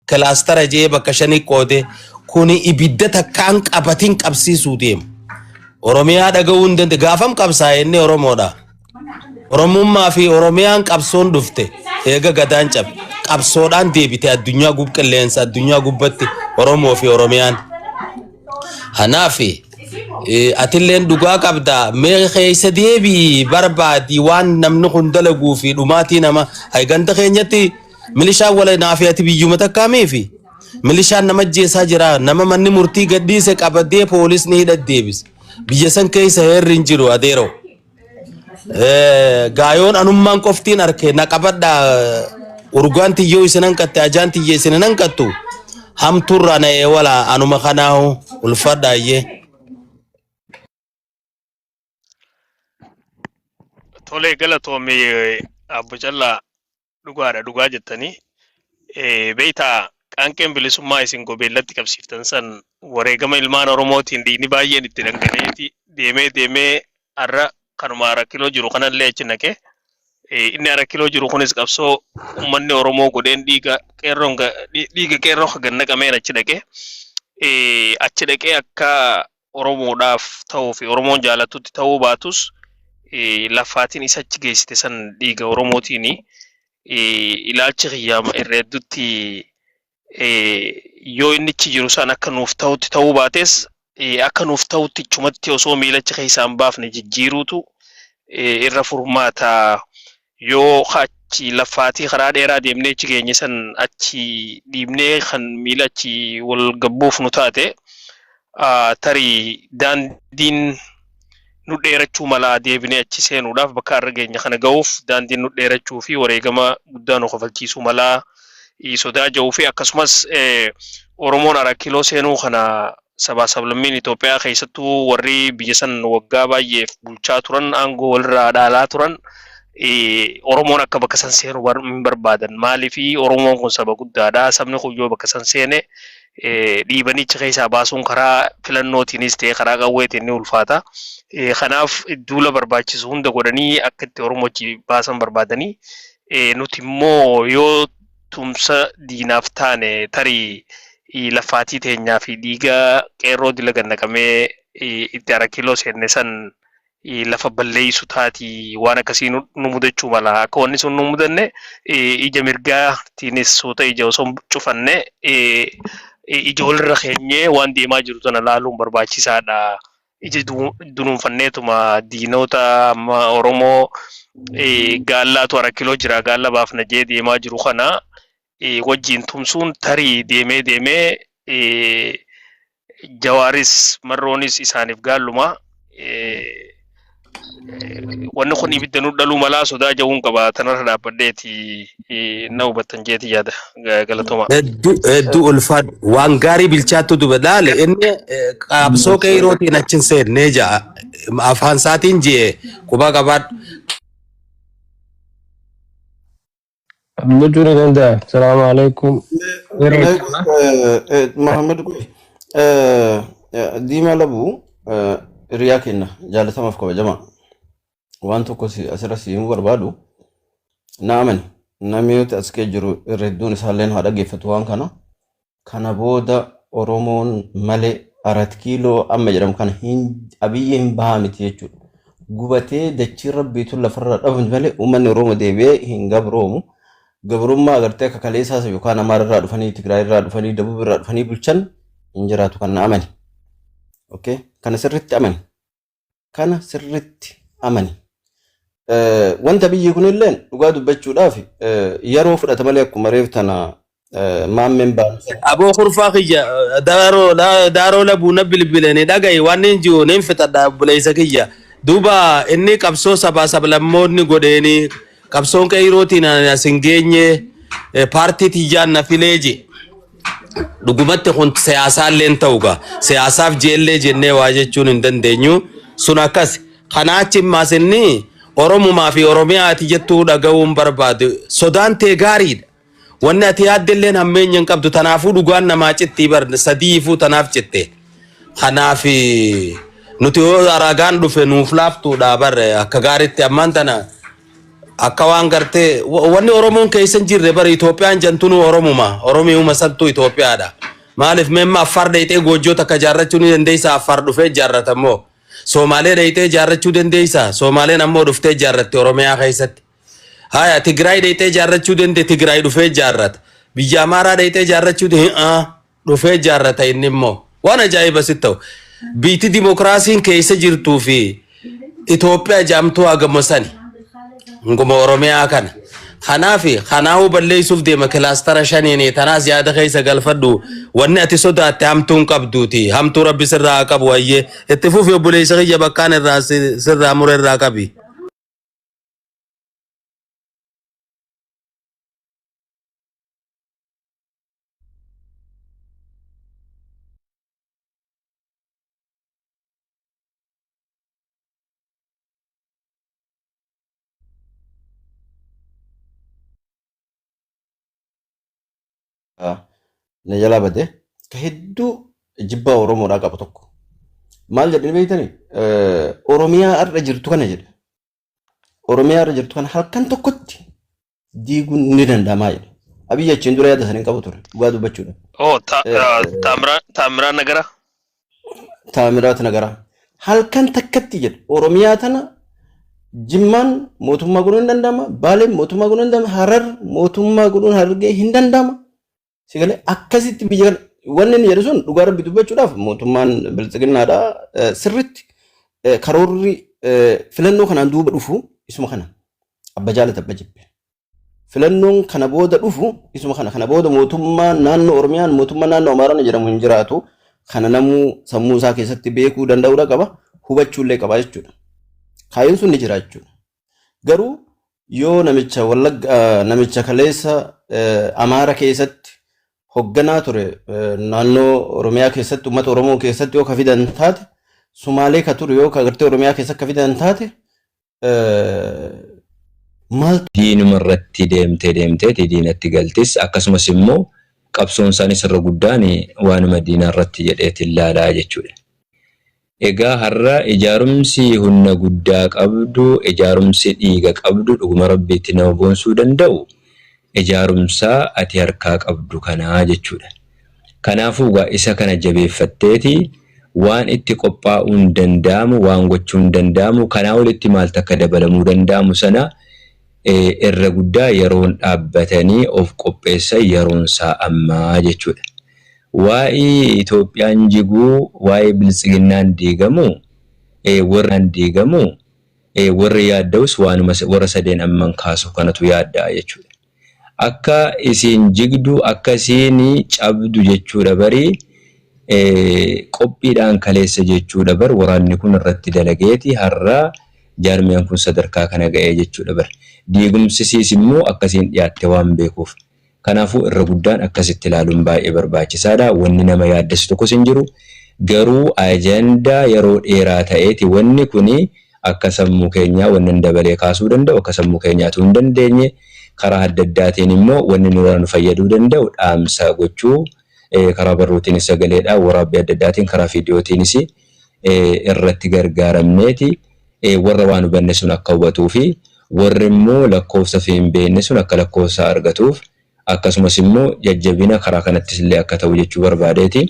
kilaastara jee bakka shanii qoode kuni ibidda takkaan qabatiin qabsiisuu deema. Oromiyaa dhaga'uu hin dandeenye. Gaafam qabsaa'e inni Oromoodha. Oromummaa fi Oromiyaan qabsoon dhufte eega gadaan cabe. Qabsoodhaan deebite addunyaa gub qilleensa addunyaa gubbatti Oromoo fi Oromiyaan. Kanaaf eh, atilleen dhugaa qabda mee keessa deebii barbaadi waan namni kun dalaguu fi dhumaatii nama ay ganda keenyatti Milishaan wala naafi ati biyyuma takkaa miifi? Milishaan nama ajjeesaa jira. Nama manni murtii gadhiise qabadee poolisni hidha deebise. Biyya san keessa heerri hin jiru adeeroo. Eh, Gaayoon anummaan qoftiin arke na qabadha. Urgaan tiyyoo isin hanqatte ajaan tiyya isin hin hanqattu. Hamtuurraa na eewala anuma kanaahu ulfadhaayyee. Tolee galatoomi Abbo Callaa dhugaadha dhugaa jettanii Eh, beektaa qaanqeen bilisummaa isin gobeellatti qabsiiftan san wareegama ilmaan Oromootiin dhiigni baay'een itti dhangala'eeti deemee deemee har'a kanuma hara kiloo jiru kanallee achi naqe Eh, inni hara kiloo jiru kunis qabsoo uummanni Oromoo godheen dhiiga qeerroon ga- dhi- dhiiga qeerroo kan naqameen achi naqe Eh, achi dhaqee akka Oromoodhaaf ta'uu fi Oromoon jaalatutti ta'uu baatus lafaatiin isa achi geessite san dhiiga Oromootiin ilaalchi kiyyaama irra hedduutti yoo inni achi jiru san akka nuuf ta'utti ta'uu baates akka nuuf ta'utti ichumatti osoo miilacha keessaa hin baafne jijjiiruutu irra furmaata yoo ka achi laffaatii karaa dheeraa deemnee achi geenye san achi dhiibnee kan miila achi wal gabbuuf nu taate ah, tarii daandiin nu dheerachuu mala deebinee achi seenuudhaaf bakka har'a geenye kana ga'uuf daandiin nu dheerachuu fi wareegama guddaa nu kafalchiisuu mala eh, sodaa ja'uu fi akkasumas eh, Oromoon Araakiloo seenuu kana sabaa sablammiin Itoophiyaa keessattuu warri biyya san waggaa baay'eef bulchaa turan aangoo walirraa dhaalaa turan Oromoon akka bakka san seenu hin barbaadan. Maaliif Oromoon kun saba guddaadha. Sabni kun yoo bakka san seene dhiibanii achi keessaa baasuun karaa filannootiinis ta'ee karaa qawweetiin ni ulfaata. Kanaaf duula barbaachisu hunda godhanii akka itti Oromoo achi baasan barbaadanii nuti immoo yoo tumsa diinaaf taane tarii laffaatii teenyaa fi dhiiga qeerroo dila gannaqamee itti arakiiloo seenne san lafa balleessu taati waan akkasii nu mudachuu mala akka wanni sun nu mudanne ija mirgaatiinis suuta ija osoo cufanne ija walirra keenyee waan deemaa jiru sana laaluun barbaachisaadha. ija dunuunfanneetuma diinoota amma Oromoo gaallaatu hara kiloo jira gaalla baafna jee deemaa jiru kana wajjiin tumsuun tarii deemee deemee jawaaris marroonis isaaniif gaalluma wanni kun ibidda nu dhaluu malaa sodaa ja'uun qaba tanarra dhaabbadheeti eh, na hubattan jeeti yaada Ga- galatoomaa. Hedduu hedduu ulfaadhu. Waan gaarii bilchaattu duba laale inni eh, qabsoo kee yerootiin achi hin seennee ja'a. Afaan isaatiin ji'e quba qabaadhu. Gochuun ni danda'a. Salaamu alaikum. Yeroo Mee jechuudha. eh, eh, Muhammad kun eh, eh, diimaa labuu eh, hiriyaa kenna jaalatamaaf kabajamaa waan tokko si- asirra si himuu barbaadu na amani namni nuti as kee jiru irra hedduun isaalleen haa dhaggeeffatu waan kana Kana booda Oromoon male Arat Kiiloo amma jedhamu kana hin Abiyyi hin bahaa miti jechuudha. Gubatee dachiin rabbiitu lafarraa dhabamti malee uummanni Oromoo deebi'ee hin gabroomu. Gabrummaa agartee akka kaleessaas yookaan Amaara irraa dhufanii Tigraay irraa dhufanii Dabub irraa dhufanii bulchan hin jiraatu kan na amani. Okay? Kana sirriitti amani. Kana sirriitti amani. Eh, Wanta biyyi kunilleen dhugaa dubbachuudhaaf eh, yeroo fudhata malee akkuma reef tana eh, maammeen baansa. Aboo kurfaa kiyya daaroo la- daaroo labuu na bilbilanii dhaga'i waan hin jiru nin fixadha obboleessa kiyya. Duuba inni qabsoo sabaa sablammoonni godheeni qabsoon qeeyrootiin ani as hin geenye eh, paartii tiyyaan na filee je. Dhugumatti kun siyaasaalleen ta'u gaa siyaasaaf jeellee jennee waa jechuun hin dandeenyu sun akkas kanaa achi immaas inni oromumaa fi oromiyaa ati jettuu dhaga'uun barbaadu sodaan tee gaariidha wanni ati yaaddelleen hammeenya hin qabdu tanaafuu dhugaan namaa cittii bar sadiifuu tanaaf citte kanaaf nuti yoo ragaan dhufe nuuf laaftuudha bar akka gaaritti ammaan tana Akka waan gartee wa- wanni Oromoon keessa hin jirre bara Itoophiyaan jantunuu Oromuma. Oromiuma santu Itoophiyaadha. Maaliif memma Affaar dheeyxee goojjoo takka jaarrachuu ni dandeeysa Affaar dhufee jaarrata immoo. Soomaalee dheeyxee jaarrachuu dandeeysa Soomaaleen ammoo dhuftee jaarratti Oromiyaa keessatti. Haya Tigraay dheeyxee jaarrachuu dandee Tigraay dhufee jaarrata. Biyya Amaaraa dheeyxee jaarrachuu dandee. dhufee jaarrata inni immoo waan ajaa'iba sitti ta'u biitti dimokiraasiin keessa jirtuu fi Itoophiyaa jaamtuu hagama sani hanguma Oromiyaa kana kanaaf kanaa'uu balleessuuf deema kilaastara shaniin tanaas yaada keessa galfadhu wanni ati sodaatte hamtuu hin qabduuti hamtuu rabbi sirraa haa qabu hayyee itti fufi obboleessa kiyya bakkaan irraa si- sirraa mure irraa qabi. na jalaa bade ka hedduu jibbaa oromoodhaa qabu tokko maal jedhani beektani oromiyaa har'a jirtu kana jedhe Oromiyaa irra jirtu kana halkan tokkotti diiguun ni danda'amaa jedhe. Abiyyi achiin dura yaada sana hin qabu ture dhugaa dubbachuudha. Oh, ta, Eh, ah, Taamira- Taamiraa Nagara. Taamiraat Nagaraa halkan takkatti jedhe Oromiyaa tana Jimmaan mootummaa godhuun hin danda'ama, Baaleen mootummaa godhuun hin danda'ama, Harar mootummaa godhuun Harargee hin danda'ama. Si galee akkasitti biyya kana wanni inni jedhu sun dhugaa rabbi dubbachuudhaaf mootummaan bilxiginnaadha eh, sirritti eh, karoorri eh, filannoo kanaan duuba dhufu isuma kana abba jaalata abba jibbe filannoon kana booda dhufu isuma kana kana booda mootummaa naannoo oromiyaan mootummaa naannoo amaaraan jedhamu hin jiraatu kana namuu sammuu isaa keessatti beekuu danda'uudha qaba hubachuullee qaba jechuudha kaayyoon sun ni jira jechuudha Garuu yoo namicha wallagga eh, namicha kaleessa eh, Amaara keessatti hogganaa ture eh, naannoo Oromiyaa keessatti uummata Oromoo keessatti yoo ka fidan taate Sumaalee ka ture yoo ka gartee Oromiyaa keessatti ka fidan taate eh, maal diinuma irratti deemtee deemteeti diinatti galtis akkasumas immoo qabsoon isaaniis irra guddaan waanuma diinaa irratti jedheeti ilaalaa jechuudha. Egaa har'a ijaarumsi hunna guddaa qabdu, ijaarumsi dhiiga qabdu dhuguma Rabbiitti nama boonsuu danda'u ijaarumsa ati harkaa qabdu kana jechuudha. Kanaafuu egaa isa kana jabeeffatteeti waan itti qophaa'uun danda'amu, waan gochuun danda'amu, kanaa olitti maaltu akka dabalamuu danda'amu sana irra guddaa yeroon dhaabbatanii of qopheessan yeroonsaa amma jechuudha. Waa'ee Itoophiyaan jiguu, waa'ee Biltsiginnaan diigamuu, ee, warri yaadda'us waanuma warra sadeen amman kaasuuf kanatu yaadda'a jechuudha. Akka isiin jigdu, akka isiin cabdu jechuudha bari, ee, qophiidhaan kaleessa jechuudha bar waraanni kun irratti dalageeti har'a jaarmiyaan kun sadarkaa kana ga'ee jechuudha bar. Diigumsi isiis immoo akka isiin dhiyaatte waan beekuuf. Kanaafuu irra guddaan akkasitti ilaaluun baay'ee barbaachisaadha. Wanni nama yaaddessu tokkos hin jiru. Garuu ajandaa yeroo dheeraa ta'eeti wanni kuni akka sammuu keenyaa wannan dabalee kaasuu danda'u akka sammuu keenyaa utuu hin dandeenye karaa adda addaatiin immoo wanni nurraa nu fayyaduu danda'u dhaamsa gochuu karaa barruutiinis sagaleedhaan waraabbii adda addaatiin karaa viidiyootiinis irratti gargaaramneeti warra waan hubanne sun akka hubatuu fi warri immoo lakkoofsa fi hin beekne sun akka lakkoofsa argatuuf akkasumas immoo jajjabina karaa kanattis illee akka ta'u jechuu barbaadeeti.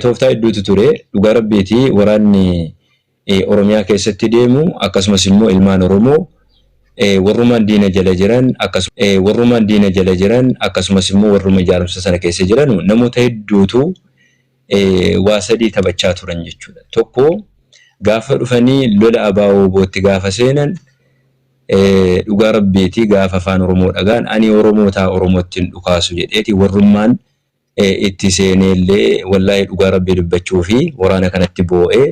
Tooftaa hedduutu ture dhugaa rabbiiti waraanni Oromiyaa keessatti deemu akkasumas immoo ilmaan Oromoo warrumaan diina jala jiran akkasumas warrumaan diina jala jiran akkasumas immoo warruma ijaarumsa sana keessa jiranu namoota hedduutu waa sadii taphachaa turan jechuudha. Tokko gaafa dhufanii lola ABO-WBOtti gaafa seenan dhugaa rabbiiti gaafa afaan Oromoo dhagahan ani Oromoo ta'a Oromootti hin dhukaasu jedheeti warrummaan itti seeneellee wallaahi dhugaa rabbii dubbachuufi waraana kanatti boo'ee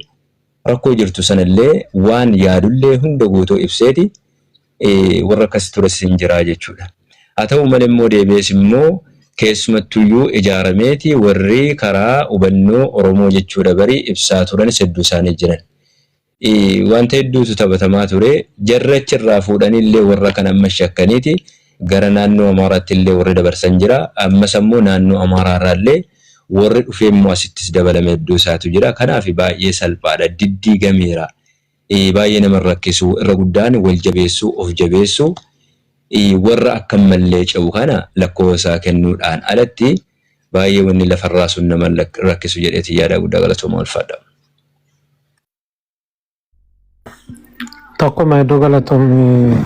rakkoo jirtu sanallee waan yaadullee hunda guutuu ibseeti warra akkasii tures in jira jechuu dha. Haa ta'uu malee immoo deebi'ees immoo keessumattuu iyyuu ijaarameeti warri karaa hubannoo Oromoo jechuu dha bari ibsaa turanis hedduu isaanii jiran. Wanta hedduutu taphatamaa ture. Jarri achi irraa fuudhanii illee warra kana ammas shakkaniiti gara naannoo Amaaraatti illee warri dabarsan jira. Ammas ammoo naannoo Amaaraa irraa illee warri dhufee immoo asittis dabalame hedduu isaatu jira. Kanaaf baay'ee salphaa dha. Diddiigameera. baay'ee nama hin rakkisu. Irra guddaan wal jabeessuu, of jabeessuu, warra akkam mallee ce'u kana lakkoofa isaa kennuu dhaan alatti baay'ee wanni lafa irraa sun nama hin rakkisu jedhee tiin yaada. Guddaa galatoomaa ulfaadha. Tokkuma hedduu galatoomi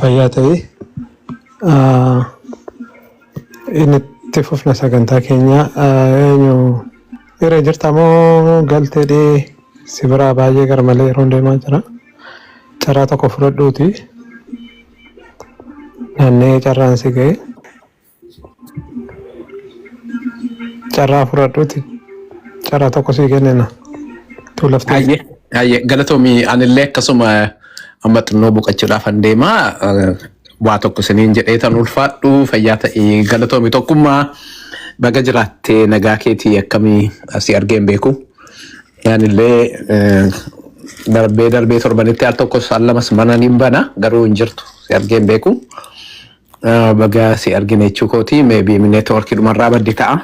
fayyaa ta'i. Itti fufna sagantaa keenya eenyu irra jirta moo galteedhee si biraa baay'ee gara malee yeroon deemaa jira. Carraa tokko fudhadhuuti naanna'ee carraan si ga'e. Carraa fudhadhuuti carraa tokko sii kennina. Tuu laftee Hayyee hayyee galatoomii anillee akkasuma amma xinnoo boqachuudhaaf an deemaa. Waa tokko isiniin jedhee tan ulfaadhu fayyaa ta'i galatoomi tokkummaa baga jiraattee nagaa keetii akkamii asii argee hin beeku. Yaanillee eh, darbee darbee torbanitti al tokkos al lamas mana niin bana garuu hin jirtu si argee hin beeku. Eh, Baga si argine jechuu kooti meebii neetwoorkii dhumarraa baddi ta'a.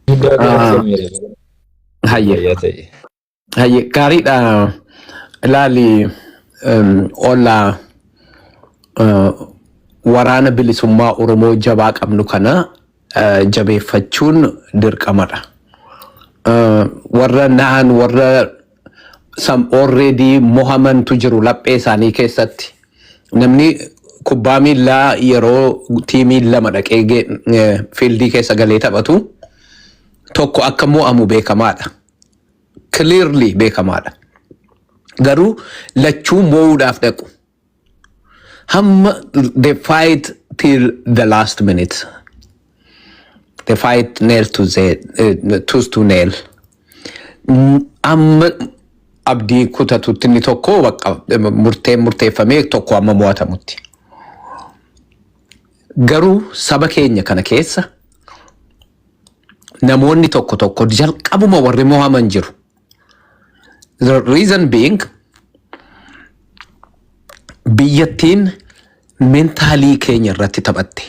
Guddaa Ah, galatoomi. Hayyee. Fayyaa ta'i. Hayyee gaariidha ilaali em, olla eh, waraana bilisummaa Oromoo jabaa qabnu kana eh, jabeeffachuun dirqamadha. Eh, Warra na'an warra sam already mohamantu jiru laphee isaanii keessatti. Namni kubbaa miillaa yeroo tiimiin lama dhaqee ge- eh, fiildii keessa galee taphatu tokko akka mo'amu beekamaadha. clearly beekamaadha. Garuu lachuu moo'uudhaaf dhaqu. Hamma they fight till the last minute. They fight nail to the, uh, tooth to nail. Mm, Amma abdii kutatutti inni tokko bakka murtee murteeffamee tokko amma mo'atamutti. Garuu saba keenya kana keessa namoonni tokko tokko jalqabuma warri mohaman jiru. The reason being biyyattiin mentaalii keenya irratti taphatte.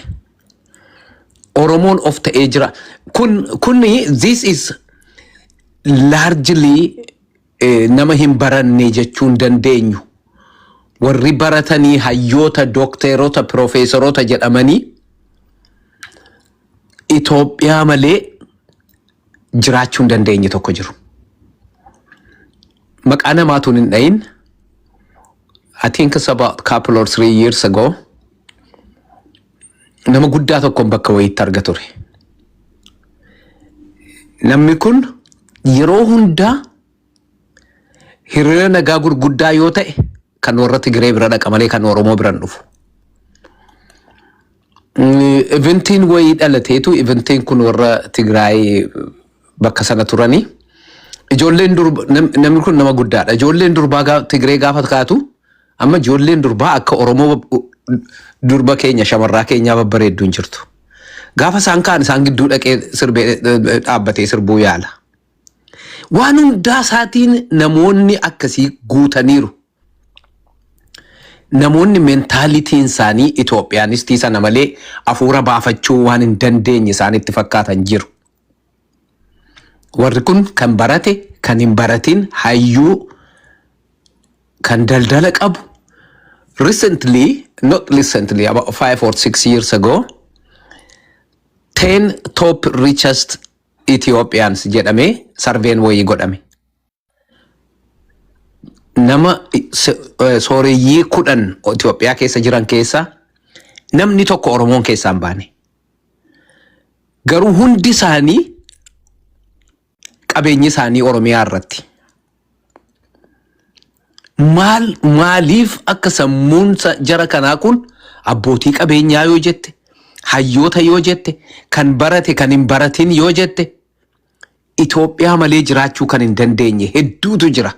Oromoon of ta'ee jira. Kun kunni this is largely eh, nama hin baranne jechuun dandeenyu. Warri baratanii hayyoota, dookteerota, piroofeesaroota jedhamanii Itoophiyaa malee jiraachuu hin dandeenye tokko jiru. Maqaa namaatuun hin dhahin. I think it's about couple or three years ago nama guddaa tokkoon bakka wayiitti arga ture. Namni kun yeroo hundaa Hiriira nagaa gurguddaa yoo ta'e kan warra Tigiree bira dhaqa malee kan Oromoo biran dhufu. Eventiin wayii dhalateetu eventiin kun warra Tigraay bakka sana turanii ijoolleen durba nam- namni kun nama guddaadha. Ijoolleen durbaa gaa- Tigiree gaafa kaatu amma ijoolleen durbaa akka Oromoo durba keenya shamarraa keenyaa babbareedduun jirtu. Gaafa isaan kaan isaan gidduu dhaqee sirbee dhaabbatee sirbuu yaala. Waan hundaa isaatiin namoonni akkasii guutaniiru. Namoonni mentaalitiin isaanii Itoophiyaanistii sana malee afuura baafachuu waan hin dandeenye isaanitti fakkaatan jiru. Warri kun kan barate, kan hin baratin, hayyuu, kan daldala qabu, recently, not recently, about five or six years ago, 10 top richest Ethiopians jedhamee sarveen wayii godhame. Nama sooreyyii kudhan Itoophiyaa keessa jiran keessa namni tokko Oromoon keessaa hin baane. Garuu hundi isaanii qabeenyi isaanii Oromiyaa irratti. Maal maaliif akka sammuun sa- jara kanaa kun abbootii qabeenyaa yoo jette, hayyoota yoo jette, kan barate kan hin baratin yoo jette, Itoophiyaa malee jiraachuu kan hin dandeenye hedduutu jira.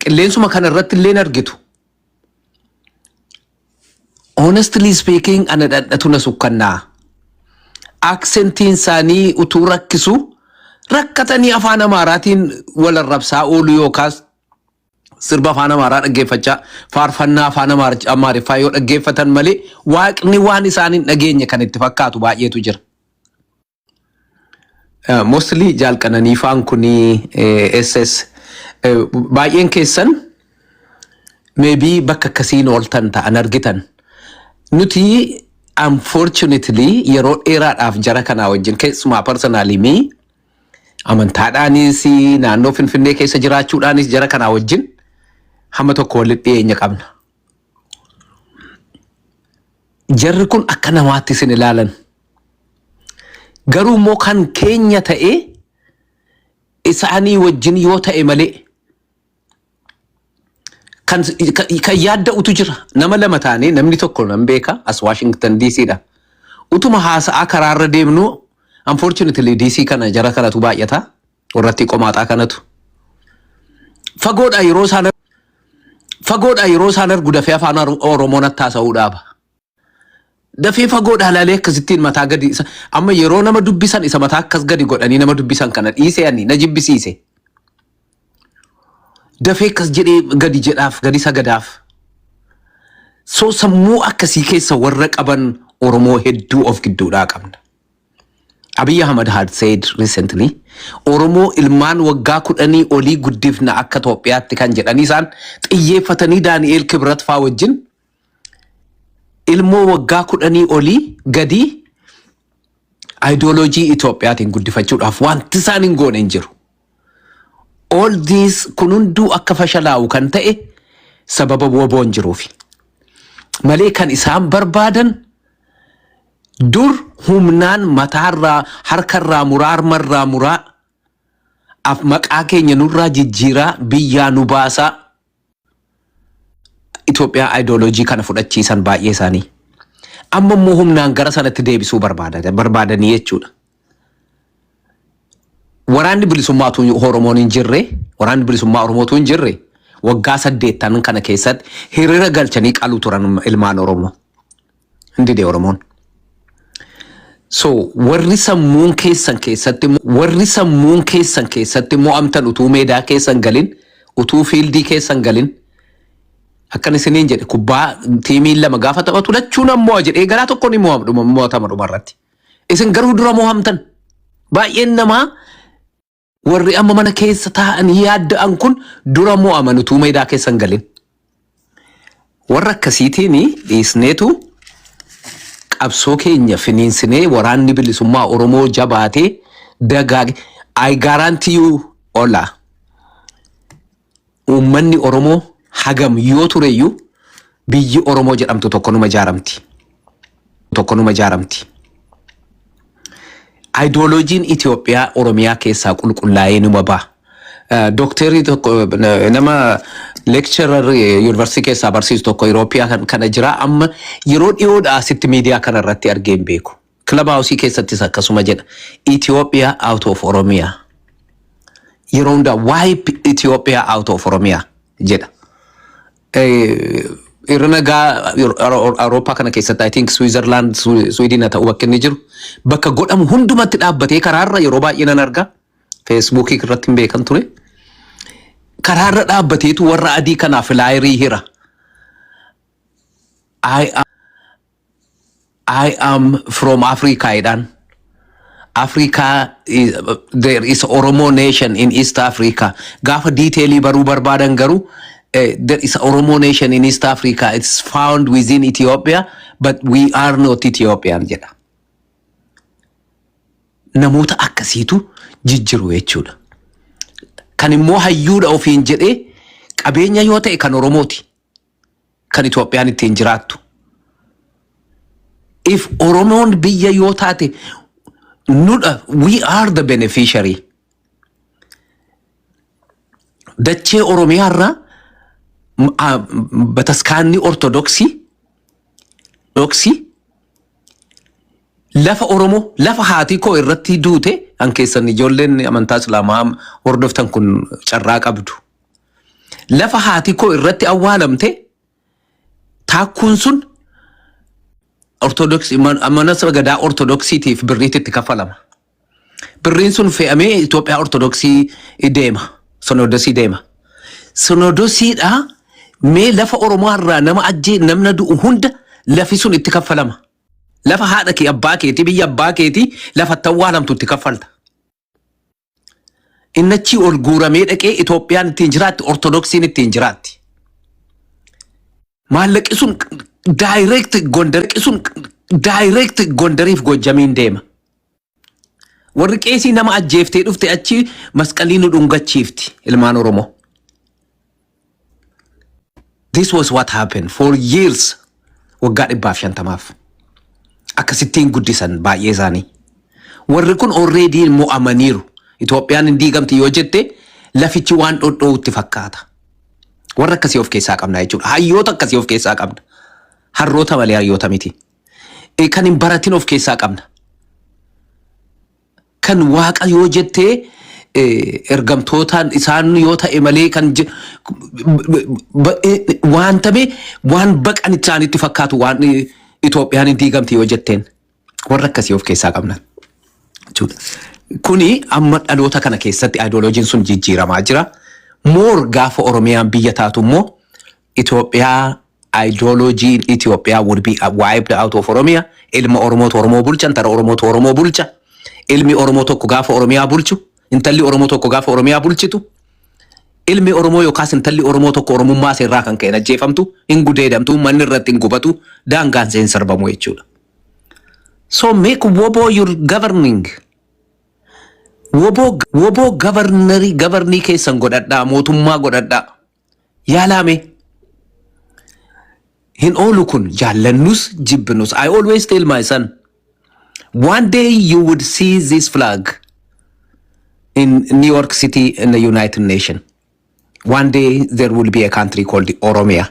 Qilleensuma kana irratti illee hin argitu. Honestly speaking ana dhadhatu na sukkannaa. Aksentiin isaanii utuu rakkisu rakkatanii afaan Amaaraatiin wal arrabsaa oolu yookaas sirba afaan Amaaraa dhaggeeffachaa faarfannaa afaan Amaar- Amaariffaa yoo dhaggeeffatan malee waaqni waan isaan hin dhageenye kan itti fakkaatu baay'eetu jira. Mostly jaal qananiifaan kunii SS baay'een keessan maybe bakka akkasiin ooltan ta'an argitan. Nuti unfortunately yeroo dheeraadhaaf jara kanaa wajjin keessumaa personally mi amantaadhaanis naannoo Finfinnee keessa jiraachuudhaanis jara kanaa wajjin hamma tokko walitti dhiyeenya qabna. Jarri kun akka namaatti isin ilaalan. Garuu immoo kan keenya ta'e isaanii wajjin yoo ta'e malee kan kan yaadda'utu jira. Nama lama taanee namni tokko nan beeka as Washington DC dha. Utuma haasa'aa karaarra deemnu unfortunately DC kana jara kanatu baay'ata. warrattii qomaaxaa kanatu fagoodhaa yeroo isaan fagoodhaa yeroo isaan argu dafee afaan Oro- oromoon attaasa'uu dhaaba dafee fagoodhaa laalee akkasittiin mataa gadi isa amma yeroo nama dubbisan isa mataa akkas gadi godhanii nama dubbisan kana dhiisee ani na jibbisiise dafee akkas jedhee gadi jedhaaf gadi sagadaaf so sammuu akkasii keessa warra qaban oromoo hedduu of gidduudhaa qabna Abiy Ahmed had said recently Oromoo ilmaan waggaa kudhanii olii guddifna akka Toophiyaatti kan jedhanii isaan xiyyeeffatanii Daani'eel Kibrat faa wajjin ilmoo waggaa kudhanii olii gadii ayidooloojii Itoophiyaatiin guddifachuudhaaf wanti isaan hin goone hin jiru. All these kun hunduu akka fashalaa'u kan ta'e sababa woboon jiruufi. Malee kan isaan barbaadan dur humnaan mataarraa harkarraa muraa harmarraa muraa af maqaa keenya nurraa jijjiiraa biyyaa nu baasaa Itoophiyaa ayidooloojii kana fudhachiisan baay'ee isaanii amma immoo humnaan gara sanatti deebisuu barbaada- barbaadanii jechuudha. Waraanni bilisummaatu Oromoon hin jirre, waraanni bilisummaa Oromootu hin jirre waggaa saddeettan kana keessatti hiriira galchanii qaluu turan ilmaan Oromoo. Hin dide Oromoon. So warri sammuun keessan keessatti warri sammuun keessan keessatti mo'amtan utuu meedaa keessan galin utuu fiildii keessan galin akkan isiniin jedhe kubbaa tiimiin lama gaafa taphatu lachuu nan mo'a jedhee garaa tokko ni mo'am- dhuma- mo'atama dhuma irratti. Isin garuu dura mo'amtan. Baay'een namaa Warri amma mana keessa taa'anii yaadda'an kun dura mo'aman utuu meedaa keessa hin galin. Warra akkasiitiin dhiisneetu qabsoo keenya finiinsinee waraanni bilisummaa Oromoo jabaatee dagaage I guarantee you Ola. Uummanni Oromoo hagam yoo tureyyuu biyyi Oromoo jedhamtu tokko numa ijaaramti. Tokko numa ijaaramti. Ayidooloojiin Itoophiyaa Oromiyaa keessaa qulqullaa'ee numa ba'a. Eh, Dookteerri tokko eh, nama leekcharar yuunivarsiitii keessaa barsiisu tokko Iroopiyaa kan- kana jira amma yeroo dhiyoodhaa asitti miidiyaa kana irratti argee hin beeku. Club House keessattis akkasuma jedha. Ethiopia out of Oromia. Yeroo hundaa wipe Ethiopia out of Oromia jedha. Eh, irra nagaa Awurooppaa kana keessatti I think Switzerland, Swi- Sweden haa ta'u bakka inni jiru bakka godhamu hundumatti dhaabbatee karaarra yeroo baay'ee nan arga. Facebook irratti hin beekan ture. Karaarra dhaabbateetu warra adii kanaaf laayirii hira. I I am from Africa jedhaan. Africa is, there is Oromo nation in East Africa. Gaafa detailii baruu barbaadan garuu eh, there is Oromo nation in East Africa. It's found within Ethiopia but we are not Ethiopian jedha. Namoota akkasiitu jijjiru jechuudha. Kan immoo hayyuudha ofiin jedhee qabeenya yoo ta'e kan Oromooti. kan Itoophiyaan ittiin jiraattu. If Oromoon biyya yoo taate nudha we are the beneficiary. Dachee Oromiyaa irraa m- a- m- bataskaanni Ortodoksii dhoksii lafa Oromoo lafa haatii koo irratti duute kan keessan ijoolleen amantaa Islaamaa hordoftan kun carraa qabdu. Lafa haati koo irratti awwaalamte taakkuun sun ortodoksii mana gadaa ortodoksiitiif birriitti itti kaffalama. Birriin sun fe'amee Itoophiyaa ortodoksii deema. Sonoodosii deema. Sonoodosiidhaa mee lafa Oromoo irraa nama ajjee namna du'u hunda lafi sun itti kaffalama. Lafa haadha kee abbaa keetii biyya abbaa keetii lafa itti awwaalamtu itti kaffalta. Inni achii ol guuramee dhaqee Itoophiyaan ittiin jiraatti, Ortodoksiin ittiin jiraatti. Maallaqi sun daayireekti Gondariqi sun daayireekti Gondariif Goojjamiin deema. Warri qeesii nama ajjeeftee dhufte achi masqalii nu dhungachiifti ilmaan Oromoo. This was what happened for years waggaa dhibbaaf shantamaaf akkasittiin guddisan baay'ee isaanii. Warri kun already mo'amaniiru. Itoophiyaan hin diigamti yoo jette lafichi waan dhodhoo'utti fakkaata. Warra akkasii of keessaa qabna jechuudha. Hayyoota akkasii of keessaa qabna. Harroota malee hayyoota miti. Eh, Kan hin baratin of keessaa qabna. kan waaqa yoo jettee eh, ergamtootaan isaan yoo ta'e malee kan je- ba- eh, waan ta'e waan baqan isaanitti fakkaatu waan eh, Itoophiyaan hin diigamte yoo jetteen warra akkasii of keessaa qabna. jechuudha. Kuni amma dhaloota kana keessatti ideoloojiin sun jijjiiramaa jira. Moor gaafa Oromiyaan biyya taatu immoo Itoophiyaa Ideologiin Itoophiyaa would be wiped out of Oromia. Ilma Oromootu Oromoo bulcha, intala Oromootu Oromoo bulcha. Ilmi Oromoo tokko gaafa Oromiyaa bulchu, intalli Oromoo tokko gaafa Oromiyaa bulchitu, ilmi Oromoo yookaas intalli Oromoo tokko Oromummaa seerraa kan ka'een ajjeefamtu, hin gudeedamtu, manni irratti hin gubatu, daangaan seen sarbamu jechuudha. So make woboo your governing. Woboo, woboo governary, governii keessan godhadhaa, mootummaa godhadhaa. Yaalaa mee. Hin oolu kun jaallannus jibbinus. I always tell my son one day you would see this flag in New York City in the United Nations. One day there will be a country called Oromia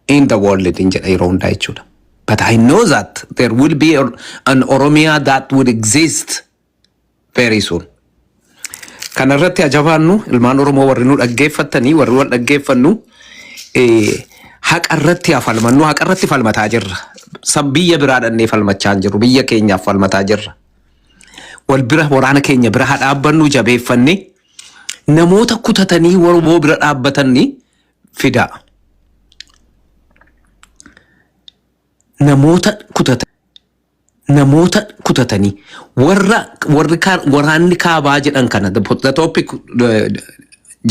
in the world in jedha yeroo hundaa jechuudha. But I know that there will be a- an Oromia that would exist very soon. Kana irratti ajabaannu ilmaan Oromoo warri nu dhaggeeffattanii warri wal dhaggeeffannu eh, haqa irratti haa falmannu haqa irratti falmataa jirra. Sab biyya biraa dhannee falmachaa hin jirru biyya keenyaaf falmataa jirra. Wal bira waraana keenya bira haa dhaabbannu jabeeffanne namoota kutatanii Oromoo bira dhaabbatanni fidaa. Namoota kutatan. namoota kutatanii warra warri kaa- waraanni kaabaa jedhan kana the po- the topic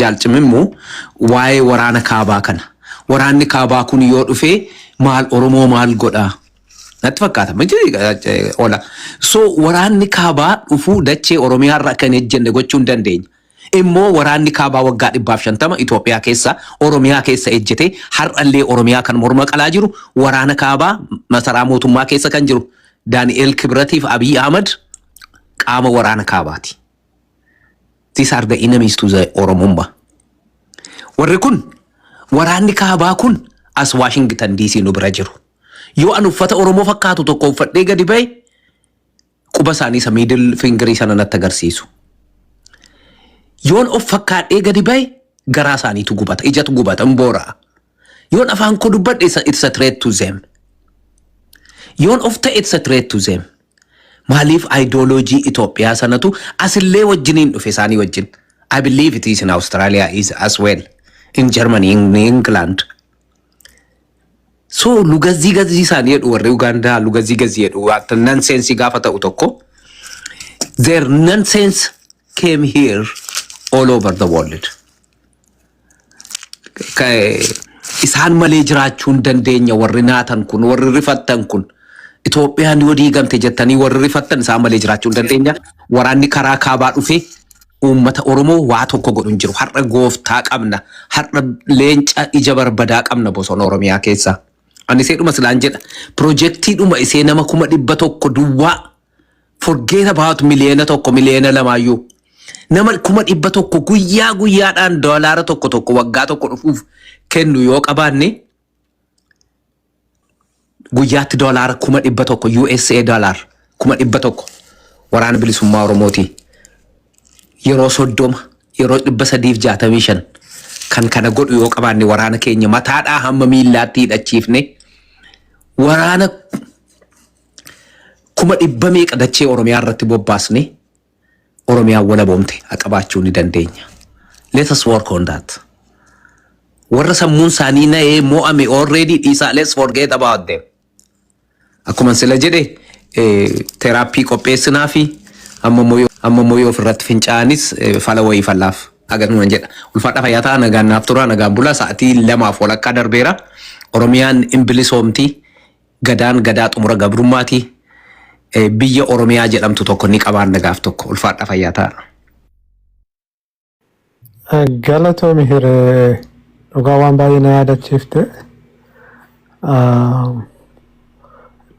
jaalcimimmoo waa'ee waraana kaabaa kana waraanni kaabaa kun yoo dhufee maal oromoo maal godhaa natti fakkaata miti eh, ola so waraanni kaabaa dhufuu dachee oromiyaarra akka hin ejjenne gochuu hin dandeenya immoo waraanni kaabaa waggaa dhibbaaf shantama Itoophiyaa keessa Oromiyaa keessa ejjetee har'allee Oromiyaa kan morma qalaa jiru waraana kaabaa masaraa mootummaa keessa kan jiru Daani'eel Kibratiif Abiy Ahmad qaama waraana kaabaati. These are the enemies to the Oromummaa. Warri kun waraanni kaabaa kun as Washington DC nu bira jiru. Yoo an uffata Oromoo fakkaatu tokko uffadhee gadi ba'e quba isaanii isa miidil fingirii sana natti agarsiisu. Yoon of fakkaadhee gadi ba'e garaa isaaniitu gubata, ijatu gubata, hin boora'a. Yoon afaan koo dubbadhe isa it's a threat to them. Yoon of ta'e it's a threat to them. Maaliif ideology Itoophiyaa sanatu asillee wajjiniin dhufe isaanii wajjin. I believe it is in Australia is as well. In Germany, in England. So lugazii gazii isaanii jedhu warri Ugaandaa lugazii gazii jedhu wanta nonsense gaafa ta'u tokko their nonsense came here all over the world. Ka- Isaan malee jiraachuu hin dandeenya warri naatan kun warri rifattan kun Itoophiyaan yoo diigamte jettanii warri rifattan isaan malee jiraachuu hin dandeenya waraanni karaa kaabaa dhufee Uummata Oromoo waa tokko godhu hin jiru. Har'a gooftaa qabna. Har'a leenca ija barbadaa qabna bosona Oromiyaa keessa. Ani seedhuma silaan jedha. Pirojektii dhuma isee nama kuma dhibba tokko duwwaa forget about miliyoona tokko miliyoona lamaayyuu. Nama kuma dhibba tokko guyyaa guyyaadhaan doolaara tokko tokko waggaa tokko dhufuuf kennu yoo qabaanne guyyaatti doolaara kuma dhibba tokko USA doolaar kuma dhibba tokko waraana bilisummaa Oromootii yeroo soddoma yeroo dhibba sadiif jaatamii shan kan kana godhu yoo qabaanne waraana keenya mataadhaa hamma miillaatti hidhachiifne waraana kuma dhibba meeqa dachee Oromiyaa irratti bobbaasne Oromiyaan walaboomte ha qabaachuu ni dandeenya. Let us work on that. Warra sammuun isaanii na'ee mo'ame already dhiisaa let's forget about them. Akkuma sila jedhe teraappii qopheessinaa fi amma immoo yoo ofirratti fincaa'anis fala wayii fallaaf agarnuman jedha. Ulfaadha fayyaa ta'a nagaan naaf tura nagaan bula sa'atii lamaaf walakkaa darbeera. Oromiyaan hin bilisoomti Gadaan Gadaa xumura gabrummaati. Biyya Oromiyaa jedhamtu tokko ni qabaanna gaaf tokko. Ulfaadha fayyaa ta'a. Galatoomi hiree dhugaa waan baay'ee na yaadachiifte. Ah,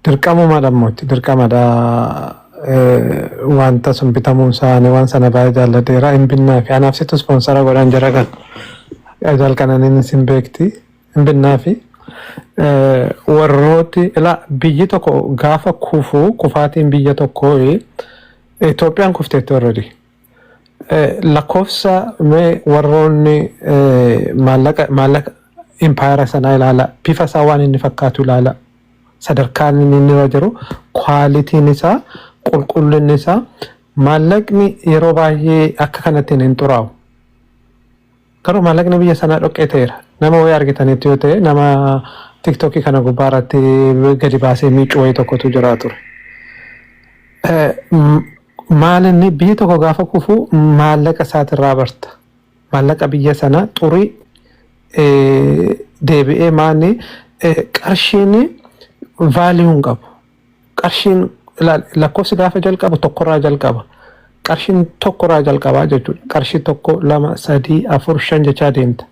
Dirqamumadha mootti dirqamadha. Eh, Wanta sun bitamuun isaanii waan sana baay'ee jaalladheera hin binnaa fi anaaf situ ispoonsara godhan jira kan. Ajal kananiin isin beekti. hin binnaafi. Warrooti ila biyyi tokko gaafa kufu kufaatiin biyya tokkoo Itoophiyaan kufteetti already. Lakkoofsa mee warroonni maallaqa maallaqa impaayera sanaa ilaala bifa isaa waan inni fakkaatu ilaala sadarkaan inni irra jiru kwaalitiin isaa qulqullinni isaa maallaqni yeroo baay'ee akka kanattiin hin xuraa'u. Garuu maallaqni biyya sanaa dhoqqee ta'eera. Nama wayii argitaniittu yoo ta'e nama TikTok kana gubbaa irratti gadi baasee miiccu wayii tokkotu jira ture. Eh, m- Maal inni biyyi tokko gaafa kufu maallaqa isaatirraa barta. Maallaqa biyya sanaa xurii eh, deebi'ee maanni eh, qarshiin vaaliyuu hin qabu. Qarshiin ilaal lakkoofsi gaafa jalqabu tokkorraa jalqaba. Qarshiin tokkorraa jalqabaa jechuudha. Qarshii tokko lama sadii afur shan jechaa deemta.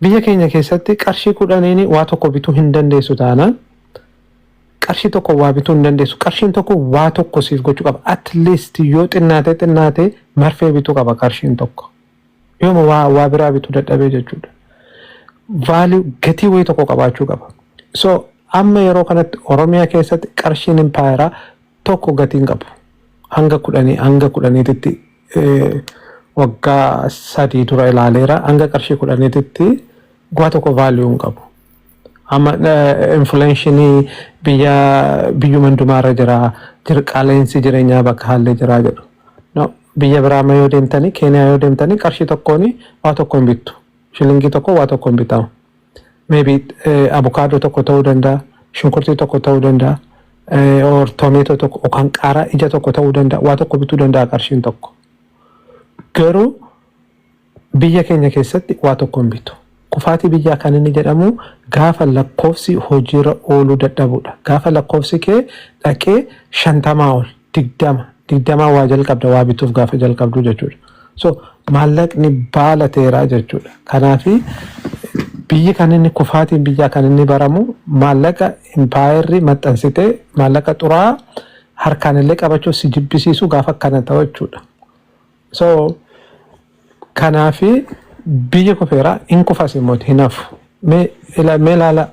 Biyya keenya keessatti qarshii kudhaniin waa tokko bituu hin dandeessu taanaan qarshii tokko waa bituu hin dandeessu. Qarshiin tokko waa tokko siif gochuu qaba. At least yoo xinnaatee xinnaatee marfee bituu qaba qarshiin tokko. Yooma waa waa biraa bitu dadhabee jechuudha. Value gatii wayii tokko qabaachuu qaba. So amma yeroo kanatti Oromiyaa keessatti qarshiin impaayeraa tokko gatii hin qabu. Hanga kudhanii hanga kudhaniititti eh, waggaa sadii dura ilaaleera hanga qarshii kudhaniititti Guyyaa tokko value hin qabu. Amma inflation biyya biyyuma hundumaa irra jira. Jir qaala'insi jireenyaa bakka haallee jira jedhu. No, biyya biraa amma yoo deemtanii Keeniyaa yoo deemtanii qarshii tokkoon waa tokko hin bittu. Shilingii tokko waa tokko hin bitamu. Maybe eh, abukaadoo tokko ta'uu danda'a, shunkurtii tokko ta'uu danda'a, eh, or tomeetoo tokko yookaan qaaraa ija tokko ta'uu danda'a, waa tokko bituu danda'a qarshiin tokko. Garuu Biyya keenya keessatti waa tokko hin bitu. Kufaatii biyyaa kan inni jedhamu gaafa lakkoofsi hojiirra ooluu dadhabuudha. Gaafa lakkoofsi kee dhaqee shantamaa ol, digdama, digdamaa waa jalqabda waa bituuf gaafa jalqabdu jechuudha. So maallaqni baala ta'eera jechuudha. Kanaaf biyyi kan inni kufaatiin biyyaa kan inni baramu maallaqa impaayerri maxxansitee maallaqa xuraa'aa harkaan illee qabachuuf si jibbisiisu gaafa akkana ta'u jechuudha. So kanaafi biyyi kufeera hin kufas immoo hin hafu. Mee ila- mee ilaala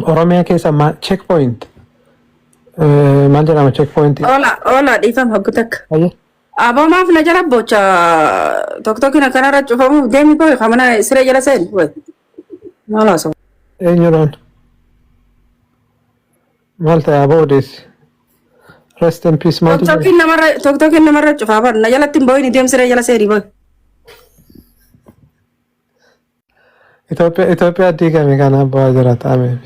Oromiyaa keessa ma check point eh, maal jedhama check point Ola, ola, dhiifama hoggu takka. Ayya. Aboo maaf na jala bocha tokko tokko na kanarra cufamuuf deemi koo ka mana siree jala seenu. Maal haasa'u? eenyuudhaan Maal ta'e aboo odeessi. Rest in peace maaltu jira? Tokkokin namarra tokkokin namarra cufaa bar na jalatti hin boo'ini deemsi ree jala seeni bar. Itoophiyaa Itoophiyaa diigame kana abbaa jira ta'ameef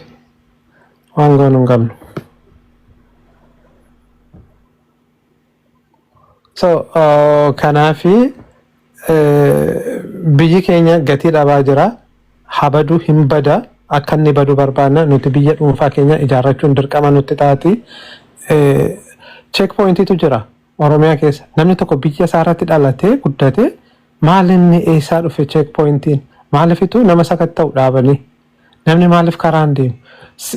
waan goonu hin qabnu. So uh, kanaafi eh, biyyi keenya gatii dhabaa jira. Habaduu hin bada akka inni badu barbaanna nuti biyya dhuunfaa keenya ijaarrachuun dirqama nutti taati. Eh, check pointiitu jira Oromiyaa keessa. Namni tokko biyya isaa irratti dhalatee guddate maal inni eessaa dhufe check pointiin maalifitu nama sakatta'u dhaabanii. Namni maaliif karaan deemu?